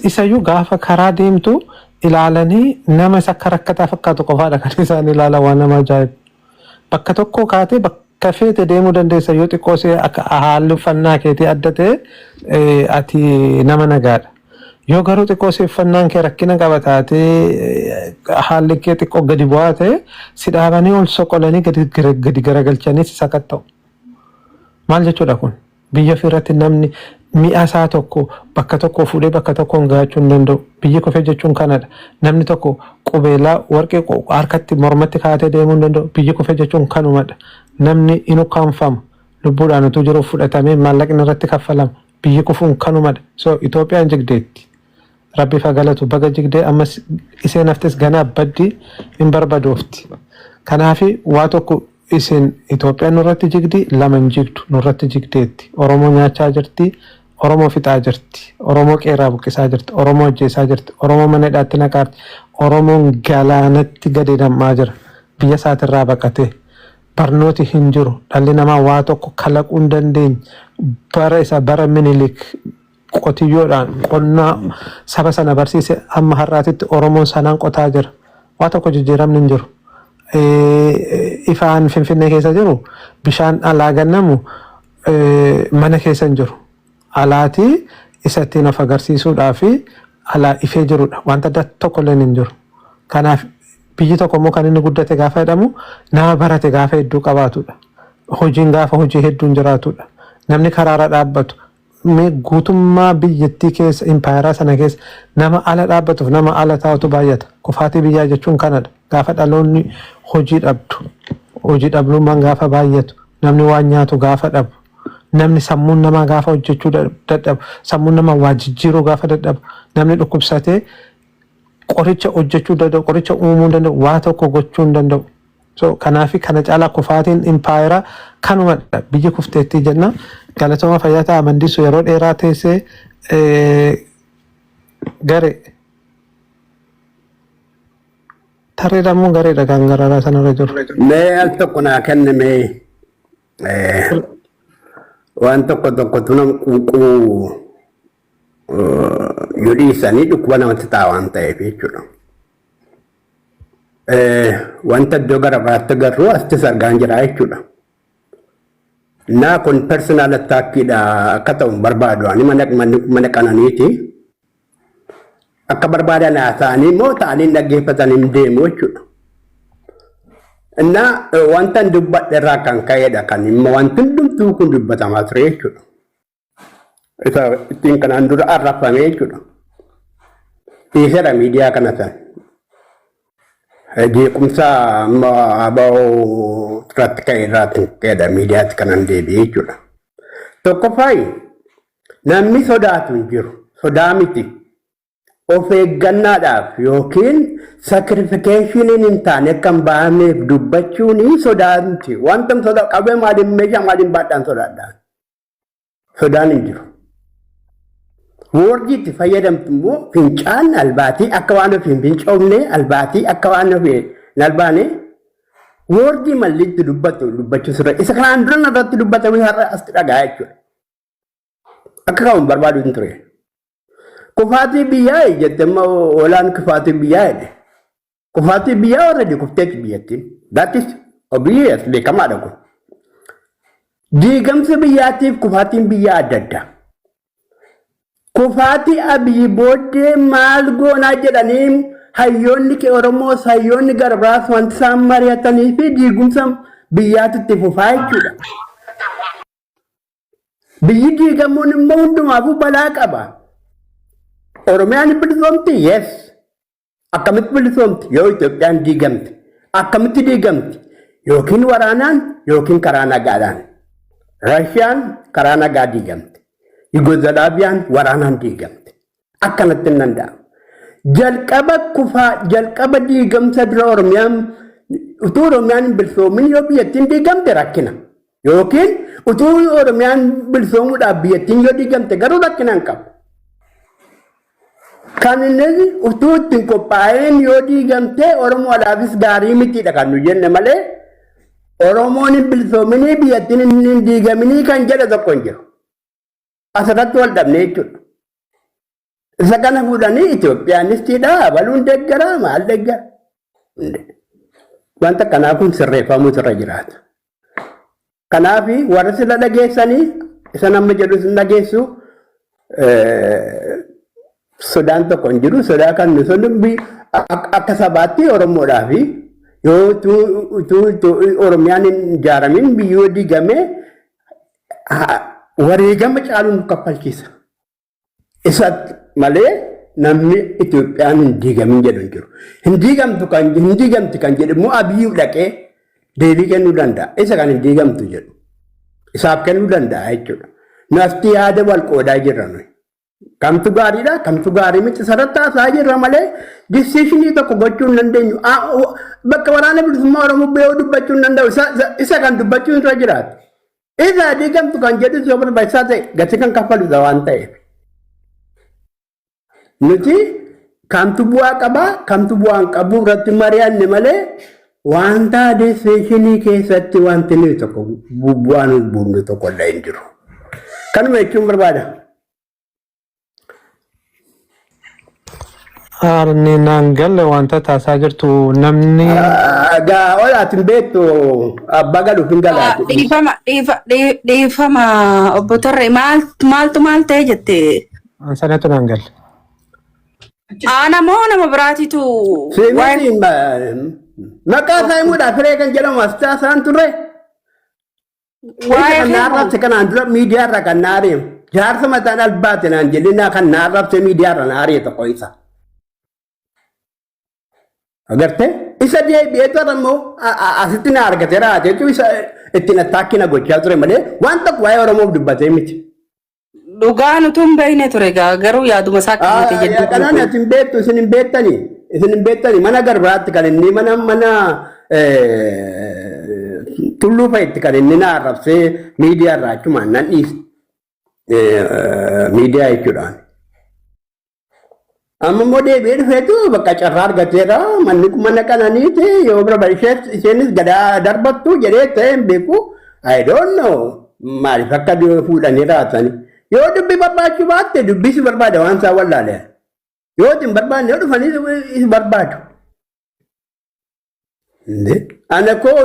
Isayyuu gaafa karaa deemtu ilaalanii nama isa akka rakkataa fakkaatu qofaadha kan isaan ilaalan waan nama ajaa'ibu. Bakka tokkoo kaatee bakka feete deemuu dandeessa yoo xiqqoo si akka haalli uffannaa keetii adda ta'e eh, ati nama nagaadha. Yoo garuu xiqqoo si uffannaan kee rakkina qaba taatee eh, haalli kee xiqqoo gadi bu'aa ta'e si dhaabanii ol soqolanii gadi gara- gadi garagalchanii si sakatta'u. Maal jechuudha kun? Biyya ofii irratti namni mi'a isaa tokko bakka tokkoo fuudhee bakka tokkoon gahachuu hin danda'u. Biyyi kufee jechuun kana dha. Namni tokko qubeelaa warqee harkatti, mormatti kaa'atee deemuu hin danda'u. Biyyi kufee jechuun kanuma dha. Namni in ukkaamfama. Lubbuudhaan utuu jiruu fudhatamee maallaqni irratti kaffalama. Biyyi kufuun kanuma dha. So Itoophiyaan jigdeetti. Rabbif ha galatu baga jigde ammas iseen haftes gana baddi hin barbadofti kanafi waa tokko isin Ethiopian nurratti jigdi lama hin jigdu nurratti jigdeetti oromoo nyaachaa jirti oromoo fixaa jirti oromoo qeerraa buqqisaa jirti oromoo ajjeesaa jirti oromoo mana hidhaatti naqaarti oromoon galaanatti gadi nam'aa jira biyya isaatirraa baqatee barnooti hin jiru dhalli namaa waa tokko kalaquu hin dandeenye bara isa bara minilik qotiyyoodhaan qonnaa saba sana barsiise amma har'aatitti Oromoon sanaan qotaa jira. Waa tokko jijjiiramni hin jiru. Ifaan Finfinnee keessa jiru bishaan alaa gannamu mana keessa hin jiru. Alaatii isa ittiin of agarsiisuudhaa fi alaa ifee jirudha. Wanta adda tokko illee hin jiru. Kanaaf biyyi tokko immoo kan inni guddate gaafa jedhamu nama barate gaafa hedduu qabaatudha. Hojiin gaafa hojii hedduun jiraatudha. Namni karaarra dhaabbatu Mee guutummaa biyyattii keessa, impaayeraa sana keessa nama ala dhaabbatuuf nama ala taa'utu baay'ata. Kufaatii biyyaa jechuun kanadha. Gaafa dhaloonni hojii dhabdu, hojii dhabluummaan gaafa baay'atu, namni waan nyaatu gaafa dhabu, namni sammuun namaa gaafa hojjechuu da- dadhabu, sammuun namaa waa jijjiiruu gaafa dadhabu, namni dhukkubsatee qoricha hojjechuu danda'u, qoricha uumuu hin danda'u, waa tokko gochuu hin danda'u. So kanaafi kana caalaa kufaatiin impaayera kanumadha biyyi kufteettii jenna galatooma fayyaa ta'a mandisu yeroo dheeraa teessee gare tarreedha immoo gareedha kan gararaa sanarra jiru. Mee al tokko naa kenni mee eh, waan tokko tokkotu nama quuquu eh, yoo dhiisanii dhukkuba namatti ta'a waan ta'eef jechuudha. Wanta iddoo gara biraatti agarru asittis argaan jira jechuudha. Naa kun personal attackidha akka ta'u hin barbaadu ani mana mana qananiiti. Akka barbaadan haasa'anii immoo ta'anii hin dhaggeeffatan hin deemu jechuudha. Innaa wanta hin dubbadhe irraa kan ka'edha kan immoo wanti hundumtuu kun dubbatamaa ture jechuudha. Isa ittiin kanaan dura arrabsame jechuudha. Dhiiseera miidiyaa kana san. Jeequmsa amma aba'oo irratti ka'e irraati ka'edha miidiyaatti kanan deebi'e jechuudha. Tokkoffaa namni sodaatu hin jiru. Sodaa miti. Of eeggannaadhaaf yookiin sakirifikeeshiniin hin taane akka hin baafneef dubbachuun sodaa miti. Wanta sodaa qabee maaliin meeshaa maaliin baadhaan sodaadhaan. sodaan hin jiru. Woordii itti fayyadamtu immoo fincaan albaatii akka waan ofii hin fincoomne albaatii akka waan ofii hin albaane woordii malli itti dubbatu dubbachuu sirra isa kanaan dura irratti dubbatame har'a asitti dhagaa jechuudha. Akka kaa'uun barbaadu hin ture. Kufaatii biyyaa jettee amma oolaan kufaatii biyyaa jedhe. kufaatii biyyaa warra kufteeti biyyattiin. That is obvious beekamaadha kun. Diigamsa biyyaatiif kufaatiin biyyaa adda addaa. Kufaatii abiyyi booddee maal goonaa jedhanii hayyoonni kee Oromoo hayyoonni garbaas wanti isaan mari'atanii fi diigumsa biyyaatti itti fufaa jechuudha. Biyyi diigamuun immoo hundumaafuu balaa qaba. Oromiyaan bilisoomti yes. Akkamitti bilisoomti yoo Itoophiyaan diigamte? Akkamitti diigamti? Yookiin waraanaan yookiin karaa nagaadhaan. Raashiyaan karaa nagaa diigamte. Yugozalaaviyaan waraanaan diigamte. Akkanatti hin danda'amu. Jalqaba kufaa jalqaba diigamsa dura Oromiyaan utuu Oromiyaan hin bilisoomin yoo biyyattiin diigamte rakkina. Yookiin utuu Oromiyaan bilisoomuudhaaf biyyattiin yoo diigamte garuu rakkina hin qabu. Kan inni utuu ittiin qophaa'een yoo diigamte Oromoodhaafis gaarii mitiidha kan nu jenne malee Oromoon hin bilisoominii biyyattiin hin diigaminii kan jedhe tokko hin jiru. Asirratti wal dhabnee jechuudha. Isa kana fuudhanii Itoophiyaan iftiidhaa abaluun deeggaraa maal deeggara? Wanta kanaa kun sirreeffamuu irra jiraata. Kanaaf warri sila dhageessanii isa nama jedhu sin dhageessu sodaan tokko hin jiru. Sodaa kan nu sun akka sabaatti Oromoodhaa fi yoo utuu Oromiyaan hin ijaaramin biyyoo diigamee wareegama caaluun nu kaffalchiisa. isatti malee namni Itoophiyaan hin diigamin jedhu hin jiru. Hin diigamtu kan hin diigamti kan jedhu immoo abiyyuu dhaqee deebii kennuu danda'a. Isa kan hin diigamtu jedhu isaaf kennuu danda'a jechuudha. Nafti yaada wal qoodaa jirra nuyi. Kamtu gaariidha, kamtu gaarii miti sarratti haasa'aa jirra malee disishinii tokko gochuu hin dandeenyu. A- o- Bakka waraana bilisummaa Oromoo ba'ee dubbachuu hin danda'u. Isa- isa- Isa kan dubbachuun irra jiraata. Isa diigamtu kan jedhus yoo barbaachisaa ta'e gatii kan kaffaludha waan ta'eef. Nuti kamtu bu'aa qabaa kamtu bu'aa hin qabu irratti mari'anne malee wanta disseeshinii keessatti wanti nuyi tokko bu'aa nuuf buufne tokko illee hin jiru. Kanuma jechuun barbaada. Haarni naan galle wanta taasaa jirtu namni Gaa ol ati hin beektu abbaa galuuf hin galaa Ah, jedhu. Dhiifama, dhiifa- dhii- dhiifama obbo Tarree maal- maaltu maal ta'e jette? an sanatu naan galle. Ana moo nama biraatitu waa'ee Seenaan maqaa isaa himuudhaaf firee kan jedhamu asxaa isaan turre. Waa'ee kan naa arrabse kanaan dura miidiyaa irra kan naa ari'e. Jaarsa mataan albaate naan jennaa kan naa arrabse miidiyaa irra naa ari'e tokko isa. Agartee? Isa deebi'ee tola immoo a- a- asitti na argate raate jechuun isa ittiin attaakki na gochaa ture malee waan tokko waa'ee Oromoof dubbatee miti. Dhugaan utuu hin beekne ture egaa garuu yaaduma isaa qabate jedhee Yaadaan ani beeku. ati hin beektu isin hin beektani. Isin hin beektani mana garbaatti kan inni mana mana eh, tulluu fa'itti kan inni na arrabsee miidiyaa irraa achumaan nan dhiise. Eh, Miidiyaa jechuudhaan. Amma immoo deebi'ee dhufeetu bakka carraa argateera manni kun mana qananiiti yoo bira ishees isheenis gadaa darbattu jedhee ta'e hin beeku I don't know maaliif akka du- fuudhanii raatani yoo dubbi barbaachuu baatte dubbi si barbaada waan isaa wallaale yoo itti hin barbaanne yoo dhufanii si- si barbaadu Nde ana koo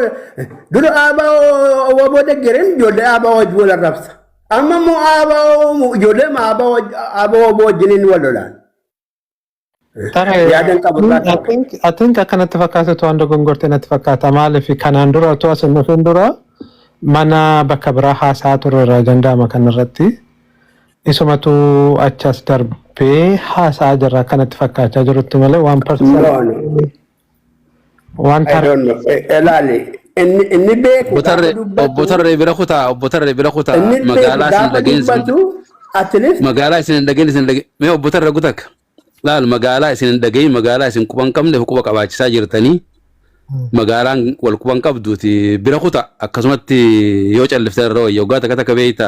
dura aabaa waboo deggereen ijoollee aabaa wajjin wal arrabsa. Amma immoo aabaa ijoollee aabaa waboo wajjin wal lolaan. Tare, Yaadan qabu irraa I qabu. think, I think akkanatti fakkaatu to'an dogongorte natti fakkaata. Maaliif kanaan dura otoo as hin dhufin dura mana bakka biraa haasa'aa turreerra danda'ama kanarratti. Isumatu achas darbee haasa'aa jirra akkanatti fakkaachaa jirutti malee waan No, personal no. Waan I tar- don't know. Eh, Elaali. Inni inni beeku Obbo gaafa Tarree Obbo dubbatu Tarree bira kutaa Obbo Tarree bira kutaa inni beeku magaalaa isin gaafa dhageen isin dubbatu at least magaalaa isin hin dhageen isin dhageen mee Obbo Tarree gutakka laal magaalaa isin hin dhageen magaalaa isin quba hin qabneef quba qabaachisaa jirtanii magaalaan wal quba hin qabduuti bira kutaa akkasumatti yoo calliftan irra wayya waggaa takka takka beeyta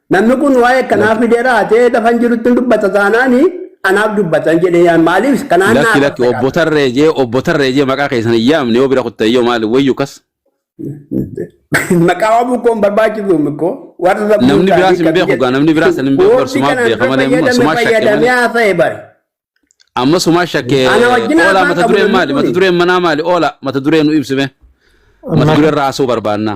Namni kun waa'ee kanaa fidee raatee lafan jirutti hin dubbata taanaan anaaf dubbatan jedhee yaan maaliif kanaan naa Lakki lakki obbo qabdadha. tarree jee obbo tarree jee maqaa keessan hin yaamne yoo bira kutte yoo maali wayyu kas Maqaa waamuu koo hin barbaachisu miko warra sammuu namni isaanii biraas hin akkatti beeku jedhu. gaa namni biraas hin beeku bar Woordi sumaaf kanaan beeka irra malee immoo fayyadame sumaa shakke fayyadamee malee haasa'e bari. Amma sumaa shakke Ana wajjin oolaa haasaan mata qabu dureen namni maali? Mata kuni. dureen manaa maali? Oolaa mata duree nu ibsime. Mata duree irraa haasuu barbaanna.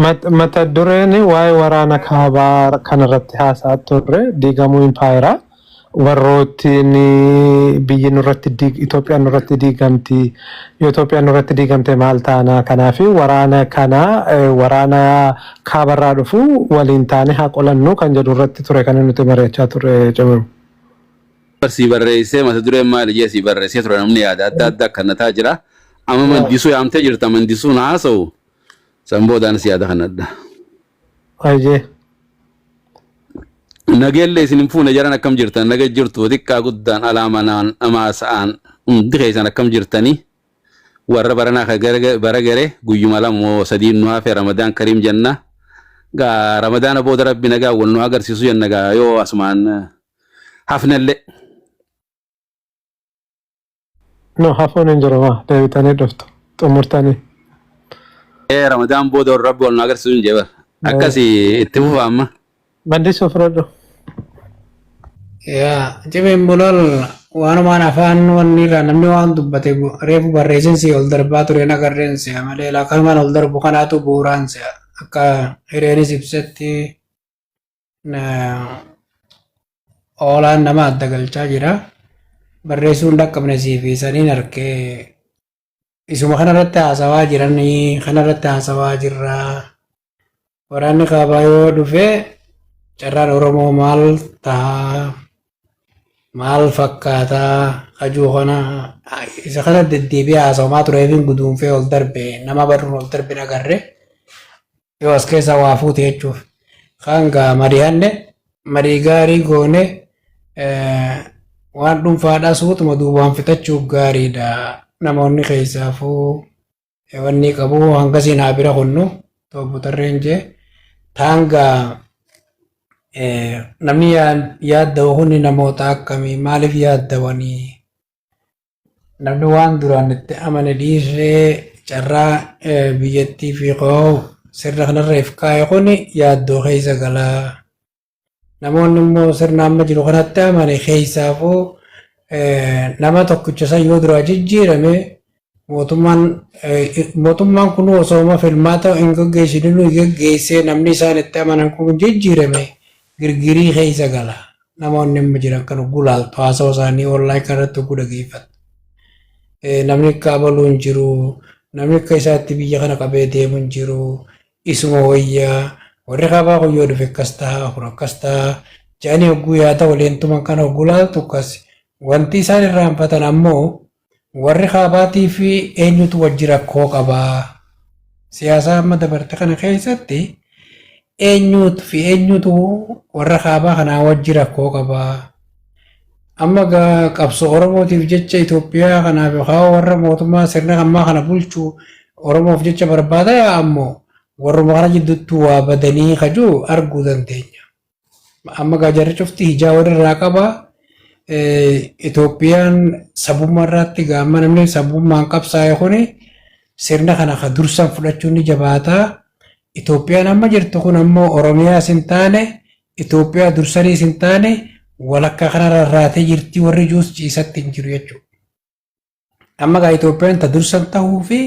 Mat- mata dureen waa'ee waraana kaabaa kanarratti haasaa turre diigamuu impaayeraa warroottiin biyyi nurratti diig- Itoophiyaan nurratti diigamti yoo Itoophiyaan nurratti diigamte maal taana kanaaf waraana kana eh, waraana kaabarraa dhufu waliin taane haa qolannu kan jedhu irratti ture kan nuti mari'achaa turre jamiru. Bar sii barreessee mata dureen maali jee sii barreessee ture namni yaada adda adda akkannataa jira amma Yaa. mandisuu yaamtee jirta mandisuun haasa'u san boodaanis yaada kannadha Hayyee. nageellee isin hin fuune jaran akkam jirtan naga jirtu xiqqaa guddaan alaa manaan amaa sa'aan hundi keessan akkam jirtanii warra baranaa ka gara- bara gare guyyuma lama moo sadii nu hafe ramadaan kariim jenna gaa ramadaana booda rabbi nagaa wal nu agarsiisu jenna gaa yoo asumaan hafnellee. No hafuun hin jiru maa deebitanii dhuftu xumurtanii. Ee Ramadaan booda warra rabbi wal nu agarsiisu hin jebar. Akkasi itti fufa amma. Maddisuu fudhadhu. Yaa cimeen bulol waanumaan afaan wanni irraa namni waan dubbate bu- reefu barreessin si ol darbaa ture na garreen si'a malee laa kanumaan ol darbu kanaatu bu'uuraan si'a akka hireenis ibsetti Oolaan nama adda galchaa jira. Barreessuun dhaqqabne siif isaniin harkee isuma kanarratti haasawaa jiran kanarratti haasawaa jirra. Waraanni kaabaa yoo dhufe carraan Oromoo maal ta'a? Maal fakkaata? Kajuu kana isa kana deddeebi'ee haasawamaa tureefiin guduunfee ol darbe nama barruun ol darbe agarre. yoo as keessaa waa fuute jechuuf kaan gaa mari'anne marii gaarii goone waan dhuunfaadhaa suutuma duubaan fixachuuf gaariidha namoonni keessaafuu wanni qabu hangasii naa bira kunnu toobbu tarreen jee taangaa namni yaaddawa kunni namoota akkamii maaliif yaaddawanii Namni waan duraan itti amane dhiisee carraa biyyattii fi koo sirna kanarra if kaa'e kun yaaddoo keessa gala. Namoonni immoo sirna amma jiru kanatti amane keessaafuu nama tokkicha san yoo duraa jijjiirame mootummaan kun osooma filmaata hin gaggeessine nuyi gaggeessee namni isaan itti amanan kun jijjiirame girgirii keessa gala. Namoonni amma jiran kan hogguu laaltu haasawa isaanii online kan irratti hogguu dhageeffattu. Eh, Namni akka abaluu hin jiru, namni akka isaatti biyya kana qabee deemu hin jiru, isuma wayyaa, warri kaabaa kun yoo dhufe akkas ta'a, kun akkas ta'a, jedhanii hogguu yaada waliin tuman kana hogguu laaltu akkas. Wanti isaan irraanfatan ammoo Warri Kaabaatii fi eenyutu wajji rakkoo qaba? Siyaasaa amma dabarte kana keessatti eenyuut fi eenyutu warra Kaabaa kanaa wajji rakkoo qaba? Amma gaa qabsoo Oromootiif jecha Itoophiyaa kanaaf yookaan warra mootummaa sirna ammaa kana bulchu Oromoof jecha barbaada yaa ammoo warruma kana jidduuttuu waa badanii kajuu arguu dandeenya. Amma gaa jarri cufti hijaa walirraa qaba. Itoophiyaan sabummaa irratti gaamma namni sabummaan qabsaa'e kuni sirna kana ka dursaan fudhachuun ni jabaata. Itoophiyaan amma jirtu kun ammoo Oromiyaas hin taane Itoophiyaa dursaniis hin taane walakkaa kanarra irraatee jirti warri juus ciisatti hin jiru jechuudha. Amma gaa Itoophiyaan ta dursan tahuu fi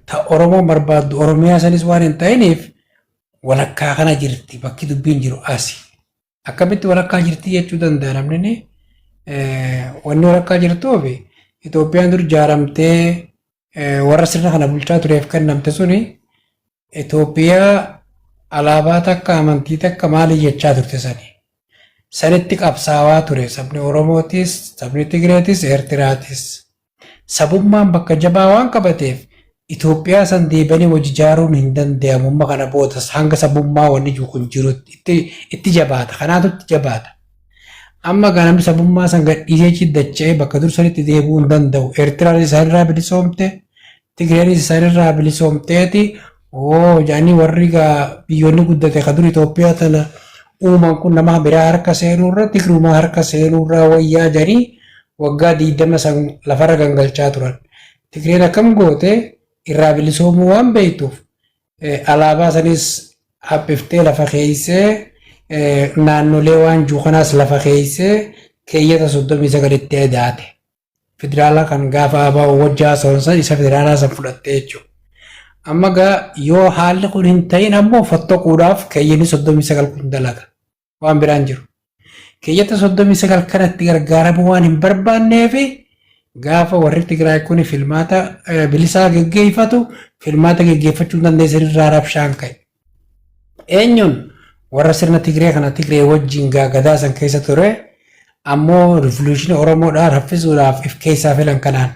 ta Oromoon barbaaddu Oromiyaa sanis waan hin ta'iniif walakkaa kana jirti bakki dubbiin jiru asi. Akkamitti walakkaa jirti jechuu danda'a namni wanni walakkaa jirtuuf Itoophiyaan dur jaaramtee warra sirna kana bulchaa tureef kennamte suni Itoophiyaa alaabaa takka amantii takka maali jechaa turte sani. Sanitti qabsaawaa ture sabni Oromootis, sabni Tigreetis, Eertiraatis. Sabummaan bakka jabaa waan qabateef Itoophiyaa san deebanii wal jijaaruun hin dandayamu amma kana boodas hanga sabummaa wanni jiru kun jirutti itti, itti jabaata kanaatu itti jabaata. Amma gaa namni sabummaa san gadhiisee achi dacha'ee bakka dur sanitti deebi'uu hin danda'u. Eertiraan isaanirraa bilisoomte, Tigreen isaanirraa bilisoomteeti oo jedhanii warri gaa biyyoonni guddate ka dur Itoophiyaa tana uuman kun nama biraa harka seenuurra Tigrumaa harka seenuurraa wayyaa jedhanii waggaa digdama san lafarra gangalchaa turan. Tigreen akkam goote irraa bilisoomuu waan beektuuf eh, alaabaa sanis haphiftee lafa keeysee eh, naannolee waan juu kanaas lafa keeysee keeyyata 39tti edaate. federaalaa kan gaafa abaa'u wajjaa haasa'uunsa isa federaalaa san fudhattee jechuudha. Amma gaa yoo haalli kun hin ta'in ammoo fottoquudhaaf keeyyanni soddomii sagal kun dalaga. Waan biraan jiru. Keeyyata soddomii sagal kanatti gargaaramuu waan hin barbaanneef gaafa warri Tigraay kun filmaata bilisaa geggeeffatu filmaata geggeeffachuu dandeessan irraa rabshaan ka'e. Eenyuun warra sirna Tigree kana Tigree wajjin gaagadaa san keessa ture ammoo rivoluushinii Oromoodhaa raffisuudhaaf if keessaa filan kanaan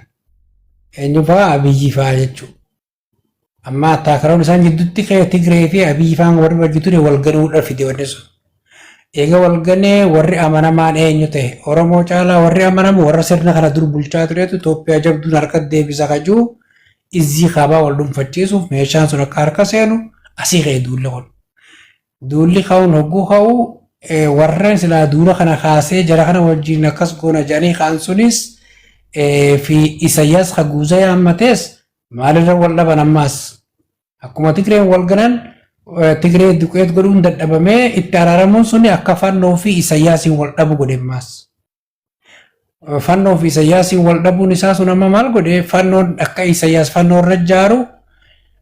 eenyu fa'aa Abiyyi fa'aa jechuudha. Amma attaakaroon isaan gidduutti ka'e Tigree fi Abiyyi fa'aan warri wajji ture wal ganuudhaaf fide wanni sun. Eega wal ganee warri amanamaan eenyu ta'e? Oromoo caalaa warri amanamu warra sirna kana dur bulchaa turetu Itoophiyaa jabduun harkatti deebisa ka jiru Izzii Kaabaa wal dhunfachiisuuf meeshaan sun akka harka seenu asii ka'e duulli kun. Duulli ka'uun hogguu ka'u warreen silaa duula kana kaasee jara kana wajjin akkas goona jedhanii ka'an sunis fi Isayyaas Haguuzee haammatees maalirra wal dhaban ammaas Akkuma Tigreen wal galan Tigree duqeet godhuun dadhabamee itti araaramuun suni akka fannoo fi Isayyaasiin wal dhabu godhe ammaas. Fannoo fi Isayyaasiin wal dhabuun isaa sun amma maal godhe fannoon akka Isayyaas fannoo irra jaaru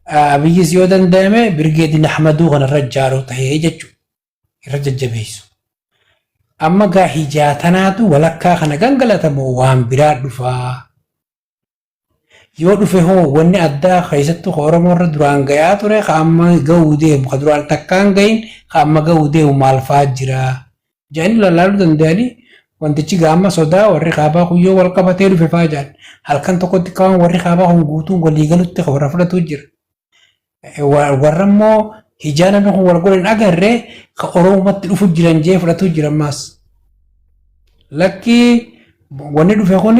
Abiyyis yoo danda'ame Birgeedin Ahmaduu kana irra jaaru ta'ee jechuudha. Irra jajjabeessu. Amma gaa hijaa tanaatu walakkaa kana gangalatamoo waan biraa dhufaa. Yoo dhufe hoo wanni addaa keessattuu ka Oromoo irra duraan gayaa ture ka amma gahuu deemu ka duraan takkaa hin gahin ka amma gahuu deemu maal fa'aa jira? jedhanii lallaaluu danda'anii wantichi gaamma sodaa warri kaabaa kun yoo wal qabatee dhufe fa'aa jedhan halkan tokkotti ka waan warri kaabaa kun guutuun walii galutti ka warra fudhatu jira. Warra immoo hijaa namni kun wal godhan agarre ka Oromumatti dhufu jiran jee fudhatu jira ammaas. Lakki wanni dhufe kun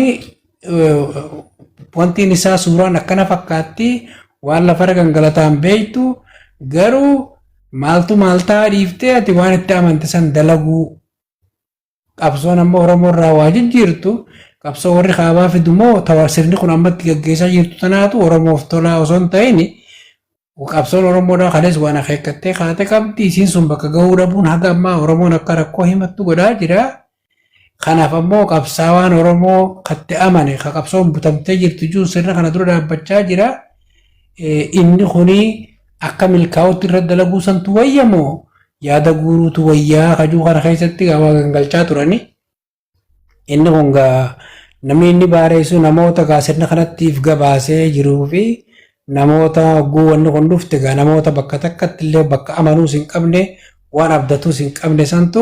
wantiin isaa suuraan akkana fakkaatti waan lafarra gangalataan beektu garuu maaltu maaltaa dhiiftee ati waan itti amante san dalaguu Qabsoon amma Oromoo irraa waa jijjiirtu qabsoo warri kaabaa fidu moo tawa sirni kun ammatti gaggeessaa jirtu tanaatu Oromoof tolaa osoo hin ta'in qabsoon Oromoodhaa kalees waan akeekkattee kaate qabdi isiin sun bakka gahuu dhabuun haga ammaa Oromoon akka rakkoo himattu godhaa jira. Kanaaf ammoo qabsaawaan Oromoo katti amane ka qabsoon butamtee jirtu jiru sirna kana dura dhaabbachaa jira. Inni kuni Akka milkaa'utti irra dalaguu santu wayya moo yaada guuruutu wayyaa kajuu kana keessatti gaa waa gangalchaa turani. Inni kun gaa namni inni baareessu namoota gaa sirna kanattiif gabaasee jiruu fi namoota hogguu wanni kun dhufte gaa namoota bakka takkatti illee bakka amanuus hin qabne waan abdatuus hin qabne santu